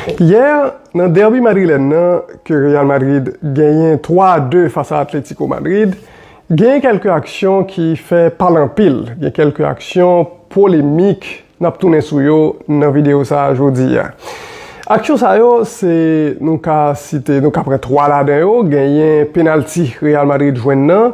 Yè, nan dèbi madrilèn nan ke Real Madrid genyen 3 a 2 fas a Atlético Madrid, genyen kèlke aksyon ki fè pale anpil, gen kèlke aksyon polemik n ap tounen sou yo nan videyo sa a jodi a. Aksyon sa yo se, nou ka site, nou ka pran 3 ladan yo, genyen penalti Real Madrid jwenn nan,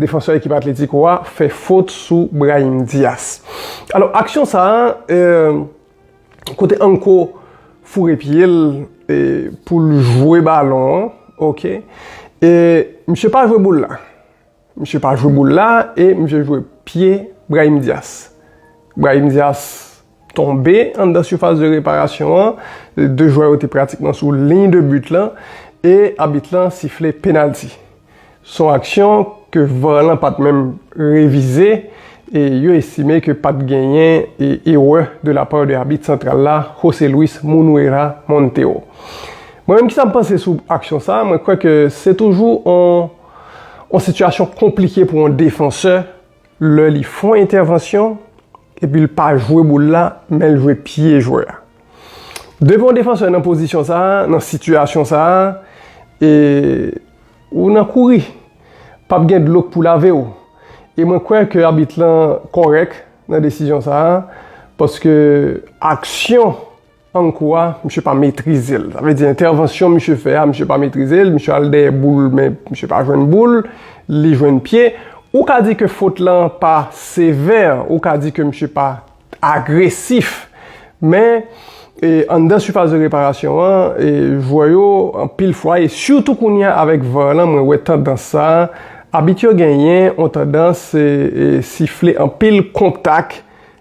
Defansè ekip Atletico a fè fot sou Brahim Diaz. Alò aksyon sa a kote Anko foure pye l pou l jwe balon an ok e misye pa jwe boul la. Misye pa jwe boul la e misye jwe pye Brahim Diaz. Brahim Diaz. tonbe anndan sifas de reparasyon an, 2 jwè yo te pratikman sou liy de but lan e abit lan sifle penalti. Son aksyon ke var lan pat menm revize e yo estime ke pat genyen erè de la par de abit santral la Jose Luis Munuera Montero. Mwen menm kisa m panse sou aksyon sa, mwen kwè ke se toujou on sitiyasyon konplike pou on defansè lè li fon entèvansyon, Epi l pa jwe boul la, men l jwe pye jwè a. Depi yon defansè nan pozisyon sa a, nan sitiyasyon sa a, e ou nan kouri. Pa p gen dlo k pou lave w. E mwen kwè ke abit lan kòrèk nan desizyon sa a, paske aksyon. An kou a, misye pa metrize l. Sa vle di entèvansyon misye fè a, misye pa metrize l, misye al dèyè boul men misye pa jwenn boul, li jwenn pye. Ou ka di ke fot lan pa sevè, ou ka di ke misye pa agresif. Men, anndan sifas de reparasyon an, jwè yo anpil fwa, e sitou kounye a avèk var lan mwen wè tandans sa, abit yo genyen yon tandans sifle anpil kontak,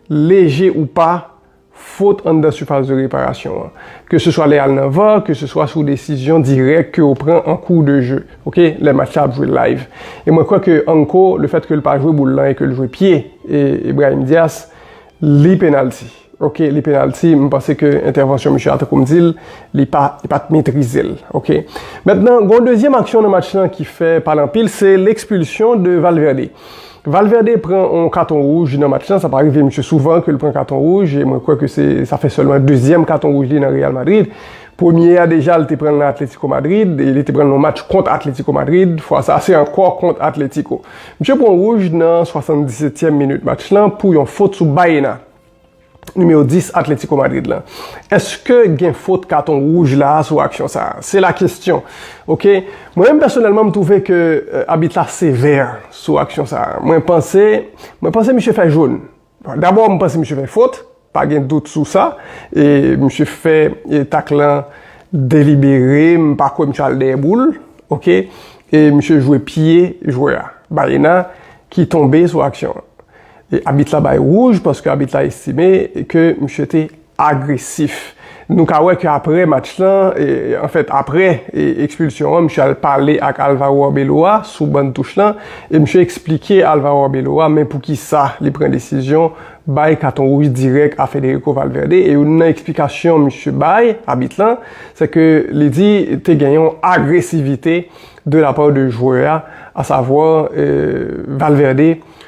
leje ou pa, fot anndan sifas de reparasyon an. Ke se swa lè al nan var, ke se swa sou desizyon dirèk ke ou pran an kou de je, ok, lè match la ap jwe live. E mwen kwè ke Anko, le fèt ke l pa jwe boul lan e ke l jwe pye e Brahim Dias, li penalti. Ok, li penalti, m panse ke entèvansyon misye a, tankou m di l, li pa, li pa t metrize l. Ok. Mentnan, gon dezyèm aksyon nan match lan ki fè pale anpil, se lekspilsyon de Valverde. Valverde pran yon katon wouj nan match lan, sa pa rive misye souvan ke l pran katon wouj, e mwen kwè ke se sa fè sèlman dezyèm katon wouj li nan Real Madrid. Premye a deja li te pran l nan Atletico Madrid, e li te pran l nan yon match kont Atletico Madrid, fwa sa se ankò kont Atletico. Misye pran wouj nan 77 tièm minit match lan pou yon fot sou Baena. Nimewo 10 Atletico Madrid lan. Eske gen fot katon wouj la sou aksyon sa? Se la kestyon. Ok. Mwen menm pèsonèlman m twouve ke abit la sevè sou aksyon sa. Mwen panse, mwen panse misye fè jone. Dabò m panse misye fè fot, pa gen dout sou sa. E misye fè tak lan delibere, m pa kwè misye al dèyè boul. Ok. E misye jwe pye jwè a, Baena, ki tonbe sou aksyon an. Abit la bay wouj paske abit la estime ke misye te agresif. Nou ka wè ke apre match lan, anfèt apre ekspilsyon an, misye al pale ak Alvaro Arbeloa sou ban touch lan e misye eksplike Alvaro Arbeloa men poukisa li pran desizyon bay katon wouj dirèk a Federico Valverde e youn nan eksplikasyon misye bay, abit lan, se ke li di te gen yon agresivite de la part de jwè a, asavwa Valverde.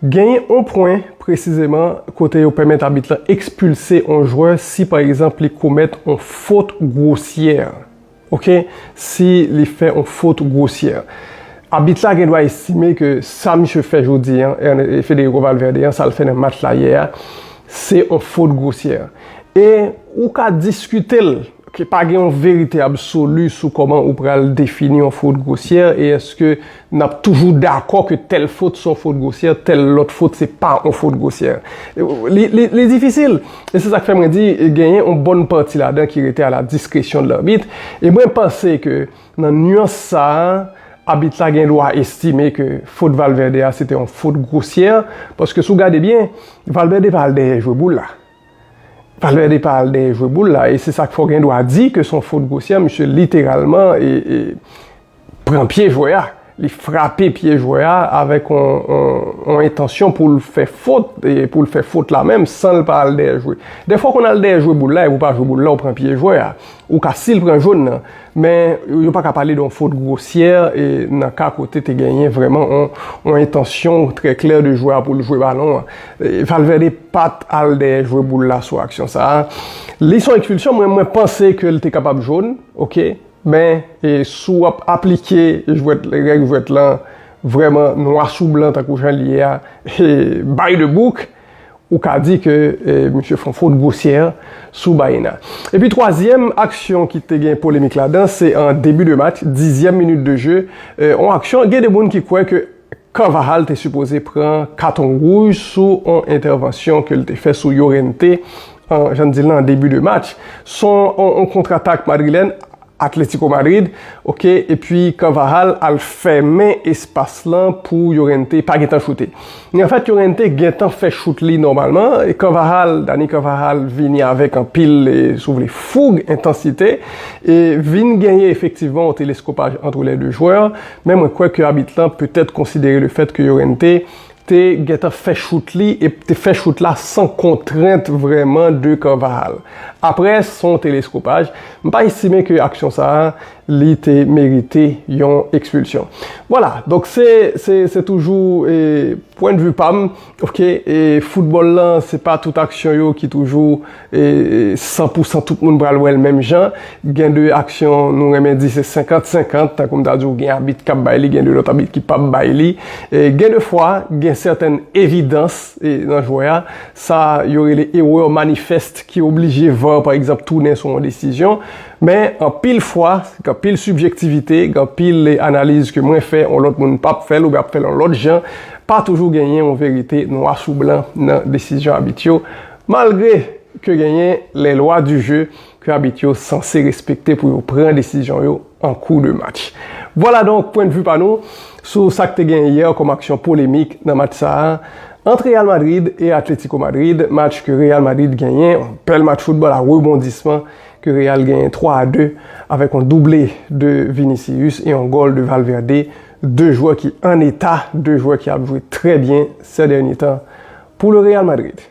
Genyen on pwen presizeman kote yo pèmèt abit lan ekspilse on jwè si pa egzanp li komèt on fot gwosyè. Ok, si li fè on fot gwosyè. Abit la gen dwa estime ke sa misye fè jodi an, Federico Valverde an, sa l fè nan match la yè a, se on fot gwosyè. E ou ka diskite l. Ke pa gen yon verite absoli sou kòman ou pral defini yon fot gwosyè e èske n ap toujou dakò ke tèl fot se yon fot gwosyè, tèl lòt fot se pa yon fot gwosyè. Li difisil. E se sa k fè mwen di genyen yon bòn pati ladan ki rete a la diskresyon de larbit. E mwen panse ke nan nuans sa a, abit la gen dwa estime ke fot Valverde a se te yon fot gwosyè. Paske si w gade byen, Valverde pa al dèyè jwe boul la. Valverde pa al dèyè jwe boul la e se sa k fè w gen dwa di ke se yon fot gwosyè, misye literalman pran pye jwè a, li frape pye jwè a avèk yon entansyon pou l fè fot e pou l fè fot la menm san l pa al dèyè jwe. Dèfwa w konn al dèyè jwe boul la e pou w pa jwe boul la w pran pye jwè a, ou ka si l pran jòn nan. Men, yo pa ka pale de yon fot gwosyè nan ka kote te genyen vrèman yon entansyon trè klè de jwè a pou l jwe balon an. Valverde pa t al dèyè jwe boul la sou aksyon sa a. Li son ekspilsyon, mwen mwen panse ke l te kapab jone, ok, men si w ap aplike jwèt, règ jwèt lan vrèman nwa sou blan tankou jan l ye a, by the book, Ou ka di ke misye fon fot gwosye an sou Baena. Epi twazyèm aksyon ki te gen polemik ladan se an debi de match, dizyèm minit de je, on aksyon gen de moun ki kwè ke Carvajal te sipoze pran katon wouj sou on entèvansyon ke l te fè sou Llorente an, jan n di l la, an debi de match. Son on kontratak madrilèn. Atletico Madrid ok epi Carvajal al fèmen espas lan pou Llorente pa gentan choute ni anfèt Llorente gentan fè chout li nòmalman e Carvajal Dani Carvajal vini avèk anpil si w vle foug entansite e vin genyen efektivman yon teleskopaj antre lè 2 jwè men mwen kwè ke abit lan petèt konsidere le fèt ke Llorente te gentan fè chout li e te fè chout la san kontrent vrèman de Carvajal. Aprè son teleskopaj, m pa estime ke aksyon sa a li te merite yon ekspilsyon. Vwala, donk se se toujou pwendvi pa m, ok, e foutbòl lan se pa tout aksyon yo ki toujou. 100 pou 100 tout moun pral wè l menm jan. Gen de aksyon nou renmen di se 50 50, tankou m ta di w gen abit k ap bay li, gen de lòt abit ki p ap bay li. Gen de fwa, gen sèten evidans nan jwè a, sa yo rele erreur manifeste ki oblije var pa egzanp tounen sou yon desizyon. Men anpil fwa, gen anpil sibjektivite, gen anpil analiz ke mwen fè, yon lòt moun p ap fè l oubyen ap fè l yon lòt jan. Pa toujou genyen yon verite nwa sou blan nan desizyon abit yo. Malgre ke genyen les lois du jeu ke abit yo sanse respekte pou yo pran desizyon yo an kou de match. Vwala donk pwen de vu pa nou sou sa k te genyen yè kòm aksyon polemik nan match sa a ant Real Madrid e Atletico Madrid, match ke Real Madrid genyen, yon bèl match foutbòl a rebondisman ke Real genyen 3 a 2 avèk yon double de Vinicius e yon gòl de Valverde, 2 jwè ki an eta, 2 jwè ki ap jwe trè byen sè dènye tan pou le Real Madrid.